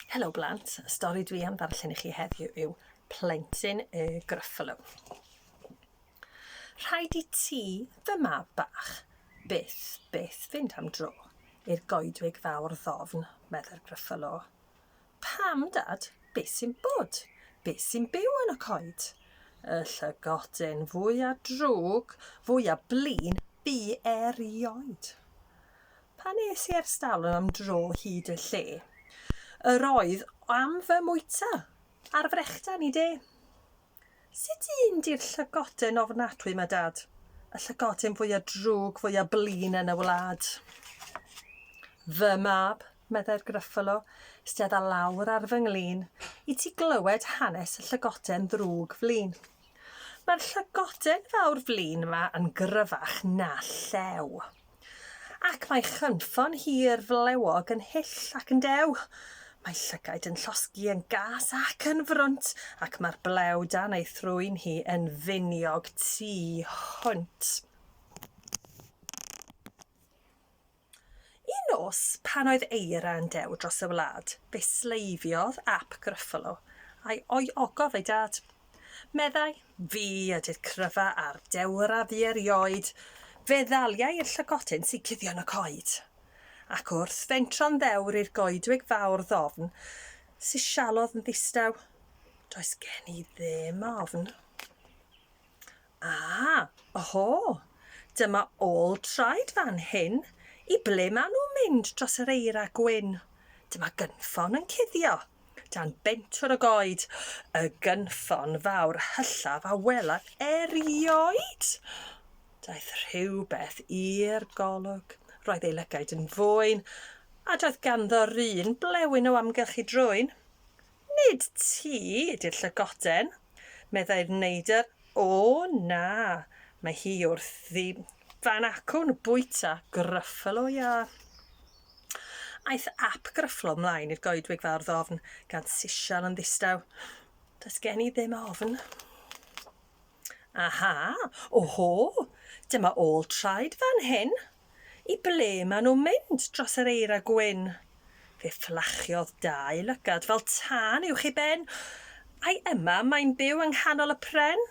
Helo blant, y stori dwi am ddarllen i chi heddiw yw Plentyn y Gruffalo. Rhaid i ti, fy mab bach, byth, byth fynd am dro i'r goedwig fawr ddofn, meddai'r Gruffalo. Pam, Dad? Be sy'n bod? Be sy'n byw yn y coed? Y llygodyn fwy a drwg, fwy a blin, bu erioed. Pan es i ar stalwm am dro hyd y lle, yr oedd am fy mwyta ar frechdan i de. Sut un di'r llygoden ofnadwy ma, Dad? Y llygoden fwya drwg, fwya blin yn y wlad. Fy mab, meddai'r Gruffalo, stedda lawr ar fy nglin, i ti glywed hanes y llygoden ddrwg flin. Mae'r llygoden fawr flin yma yn gryfach na llew. Ac mae chynffon hir flewog yn hyll ac yn dew. Mae llygaid yn llosgi yn gas ac yn frwnt, ac mae'r blew dan ei thrwyn hi yn finiog tu hwnt. Un nos, pan oedd eira yn dew dros y wlad, fe sleifiodd ap Gruffalo, a'i ogof ei dad. Meddai, Fi ydy'r cryfa a'r dewr a fu erioed, fe ddaliai i'r llygotyn sy'n cuddio yn y coed. Ac wrth fentro'n ddewr i'r goedwig fawr ddofn sy'n sialodd yn ddistaw, does gen i ddim ofn. Aa! Oho! Dyma ôl traed fan hyn! I ble maen nhw'n mynd dros yr eira gwyn? Dyma gynffon yn cuddio dan bentwr y goed! Y gynffon fawr hyllaf a welaf erioed! Daeth rhywbeth i'r golwg. Roedd ei lygaid yn fwyn, a doedd ganddo'r un blewyn o amgylch ei drwyn. Nid ti ydy'r llygoden, meddai'r neidr. O, na, mae hi wrthi. Fan acwn bwyta Gruffalo iâ. Aeth ap Gruffalo mlaen i'r goedwig fawr ddofn, gan sisial yn ddistaw. Does gen i ddim ofn. Aha! Oho! Dyma ôl traed fan hyn! I ble maen nhw'n mynd dros yr eira gwyn? Fe fflachiodd dau lygad fel tân uwch ei ben. Ai yma mae'n byw yng nghanol y pren?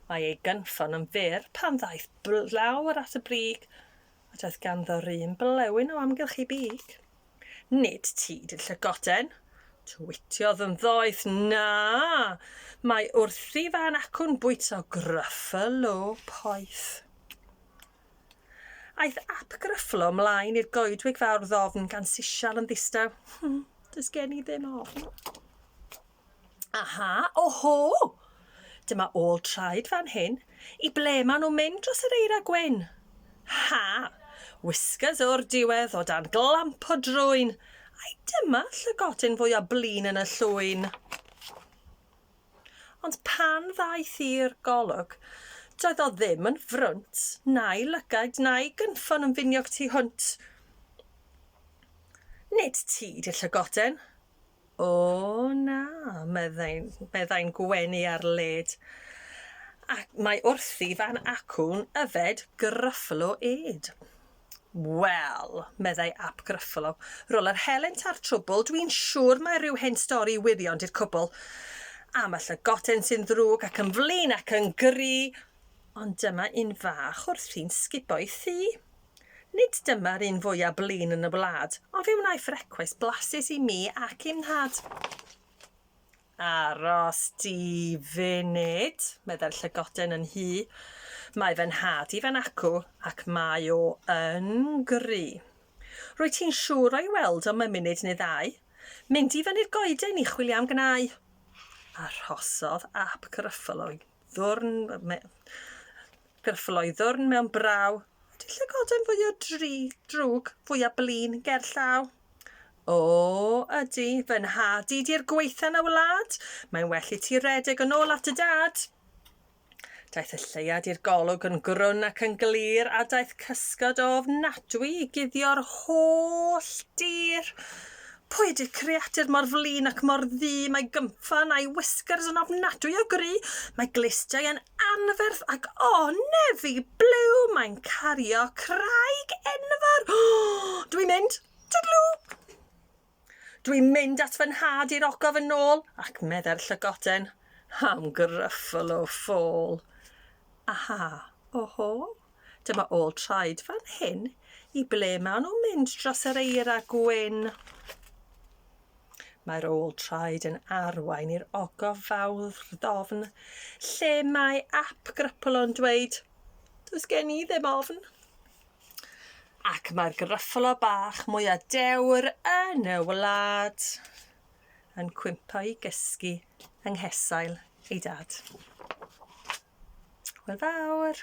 Mae ei gynffon yn fyr pan ddaeth blawr at y brig, a doedd ganddo run blewyn o amgylch ei big. Nid ti dy llygoden! twitiodd yn ddoeth. Na! Mae wrthi fan acwn bwyta Gruffalo poeth. Aeth ap Gruffalo mlaen i'r goedwig fawr ddofn gan sisial yn ddistaw. Does gen i ddim ofn. Aha, oho! Dyma ôl traed fan hyn. I ble maen nhw'n mynd dros yr eira gwyn? Ha! Whiskers o'r diwedd o dan glamp o drwyn. Ai dyma llygotyn fwy o blin yn y llwyn? Ond pan ddaeth i'r golwg, doedd o ddim yn frwnt, na'i lygaid, na'i gynffon yn finiog tu hwnt. Nid ti di'r llygoden, O na, meddai, meddai'n gwenu ar led. Ac mae wrthi fan acwn yfed Gruffalo ed. Wel, meddai ap Gruffalo, rol yr helynt a'r trwbl, dwi'n siŵr mae rhyw hen stori wirion di'r cwbl. Am y llygoden sy'n ddrwg ac yn flin ac yn gry, ond dyma un fach wrthi'n sgubo'i thŷ. Nid dyma'r un fwya blin yn y wlad, ond fe wnaeth frecwest blasus i mi ac i'm nhad. Aros di funud, meddai'r llygoden yn hŷ. Mae fy nhad i fan acw, ac mae o yn gry. Rwyt ti'n siŵr o'i weld o mewn munud neu ddau. Mynd i fyny'r goeden i chwilio am gnau. Arhosodd ap Gruffuloy. Ddwrn me- Gyrffloi ddwrn mewn braw. Ydy llygoden fwy o dri, drwg, fwy o blin, ger llaw? O, ydy, fy nhad i di'r gweitha na wlad. Mae'n well i ti redeg yn ôl at y dad. Daeth y lleiad i'r golwg yn grwn ac yn glir a daeth cysgod o ofnadwy i guddio'r holl dir. Pwy ydi creadur mor flin ac mor ddu, mae gynffon a'i whiskers yn ofnadwy o gry, mae glustiau yn anferth ac o, nefi blew, mae'n cario craig enfawr! Dwi'n mynd! Twdlw! Dwi'n mynd at fy nhad i'r ogof yn ôl, ac meddai'r llygoden, am Gruffalo Fall. Aha, oho. Dyma ôl traed fan hyn. I ble maen nhw'n mynd dros yr eira gwyn? Mae'r ôl traed yn arwain i'r ogof fawr ddofn, lle mae ap Grypolon dweud, Does gen i ddim ofn. Ac mae'r gryffalo bach mwy a dewr yn y wlad yn cwympo i gysgu yng nghesail ei dad. Hwyl fawr!